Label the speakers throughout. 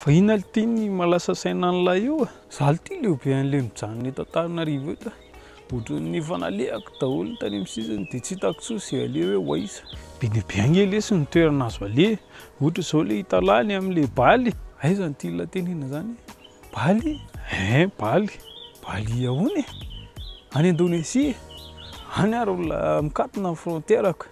Speaker 1: Fa inona le tiany malasa saina an'ilay io a? Za le tia le be an'le mijanona eto Antananarivo eto a! Ohatran'ny efa nalehako daholo ny tany amin'ny sisiny de tsy hitako intsony ze aleha hoe ho aiza. Be dia be ange lesy ny toerana azo aleha, ohatra zao le Italany amin'le Bali, aiza ny tian'ilay tenena zany e? Bali? Eeh Bali? Bali ahoana e? Any Indonesia e? Any ary olona mikatona ny frontière ko.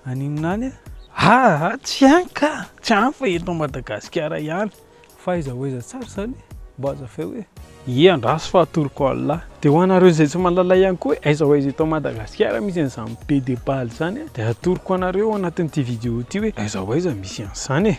Speaker 1: Aninona any e? Aa tsy any ka! Tsy any fa eto Madagasikara ihany. Fa aiza ho aiza tsara izany e? Mba hazavao e! Ie andraso fa atoroko Allah. Dia ho anareo izay tsy mahalala ihany koa hoe aiza ho aiza eto Madagasikara misy an'izany be de balle izany dia atoroko anareo ao anatin'ity vidéo ity hoe aiza ho aiza misy an'izany e!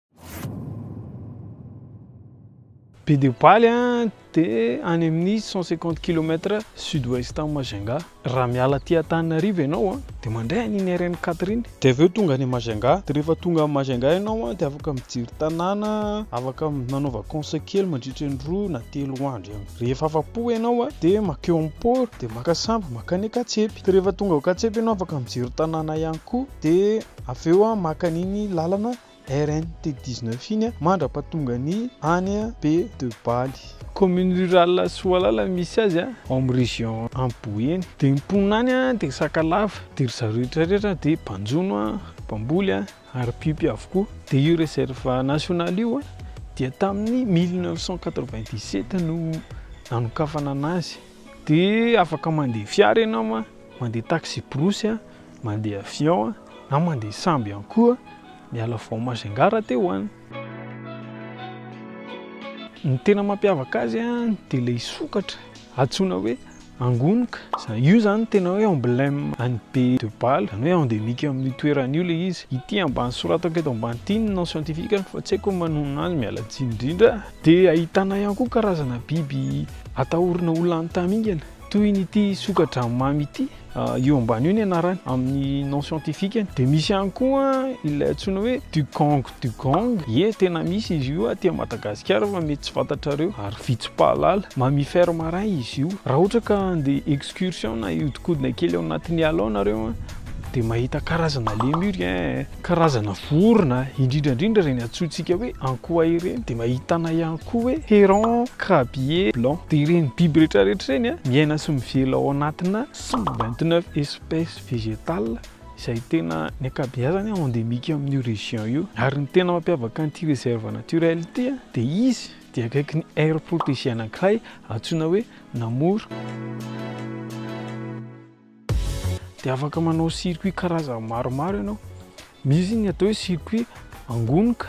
Speaker 1: Bedeopaly dia any amin'ny cent cinquante kilomètre sud ouest an'i Majunga. Raha miala aty Antananarivo ianao dia mandray an'iny RN quatre iny dia avy eo tonga any Majunga. Dia rehefa tonga any Majunga ianao dia afaka mijery tanàna, afaka manaova course kely mandritra ny roa na telo andro eo. Rehefa afa-po ianao dia mankeo amin'ny port, dia maka sambo mankany Ankatsepy. Dia rehefa tonga ao Ankatsepy ianao afaka mijery tanàna ihany koa dia avy eo maka an'iny lalana RNT dix-neuf iny mandra-pahatongany any Be de Baly. Commune rurale Soalala misy azy ao amin'ny région any Boeny. Dia ny mponina any dia Sakalava. Dia ry zareo rehetra rehetra dia mpanjono, mpamboly ary mpiompy avokoa. Dia io réserve nationale io dia tamin'ny mille neuf cent quatre-vingt-dix-sept no nanokafana anazy. Dia afaka mandeha fiara ianao, mandeha taxi-brousse, mandeha avion na mandeha sambo ihany koa miala vao Majunga raha te ho any. Ny tena mampiavaka azy dia ilay sokatra antsoina hoe angonoka. Io izany no tena hoe emblème any Be de Bala, izany hoe endémique amin'io toerana io ilay izy. Ity ambany soratako eto ambany ity ny nom scientifique-ny fa tsy haiko ny manonona azy, miala tsiny indrindra. Dia ahitana ihany koa karazana biby atahorana ho lany tamingana toy ny ity soka-dranomamy ity, io ambany io ny anarany amin'ny nom scientifique-ny, dia misy ihany koa ilay antsoina hoe dugong dugong, ie tena misy izy io aty Madagasikara fa mety tsy fantatrareo ary vitsy mpahalala, mammifère marin izy io, raha ohatra ka andeha excursion na hihodinkodina kely ao anatin'ny ala ao nareo dia mahita karazana lemur ee. Karazana vorona, indrindra indrindra ireny antsointsika hoe ankoay ireny, dia ahitana ihany koa hoe heron, crabier blanc. Dia ireny biby rehetra rehetra ireny miaina sy mivela ao anatina cent vingt neuf espèces végétales izay tena ny ankabeazany endémique amin'io région io. Ary ny tena mampiavaka an'ity réserve naturelle ity dia izy dia akaiky ny aire protégée anankiray antsoina hoe Namoro. Dia afaka manao circuit karazany maromaro ianao. Misy ny atao hoe circuit angonoka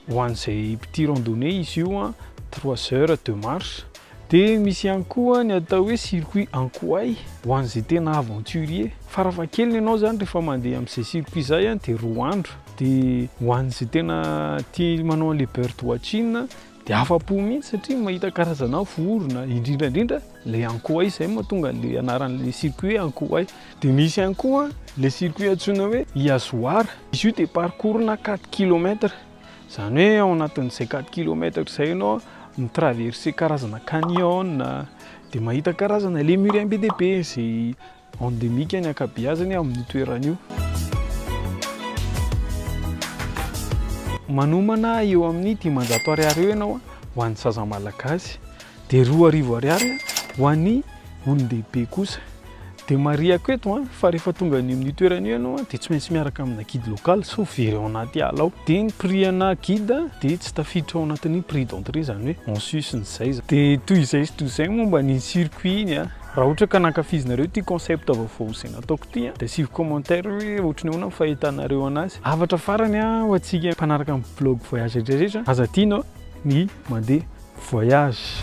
Speaker 1: ho an'izay mpitia randonnée izy io a, trois heures de marche. Dia misy ihany koa ny atao hoe circuit ankoay ho an'izay tena aventurier. Farafahakeliny ianao izany rehefa mandeha amin'izay circuit izay a dia roa andro. Dia ho an'izay tena tia manao an'ilay bird watching Dia afa-po mihitsy satria mahita karazana vorona, indrindra indrindra ilay ankoay, izay moa tonga an'ilay anaran'ilay circuit hoe ankoay. Dia misy ihany koa ilay circuit antsoina hoe Iazoar. Izy io dia parcours-na quatre kilomètres. Izany hoe ao anatin'izay quatre kilomètres izay ianao mi-traverser karazana canyon, dia mahita karazana ilay mur MBDP izay. Endemique ny ankabeazany amin'io toerana io. Manomana eo amin'ny dimanjato ariary eo ianao ho an'ny zaza malagasy, dia roa arivo ariary ho an'ny olon-dehibe kosa. Dia marihako eto fa rehefa tonga any amin'io toerana io ianao dia tsy maintsy miaraka amina guide local sao very ao anaty ala ao. Dia ny prix ana guide dia tsy tafiditra ao anatin'ny prix d'entrée izany hoe en sus ny zay. Dia toy izay sy toy izay momba ny circuit-ny. Raha ohatra ka nankafizinareo ity concept vaovao izay nataoko ity dia asivy commentaire hoe ohatry ny ahoana ny fahitanareo anazy. Hafatra farany ho antsika mpanaraka ny blog voyage rehetra rehetra, aza adino ny mandeha voyage.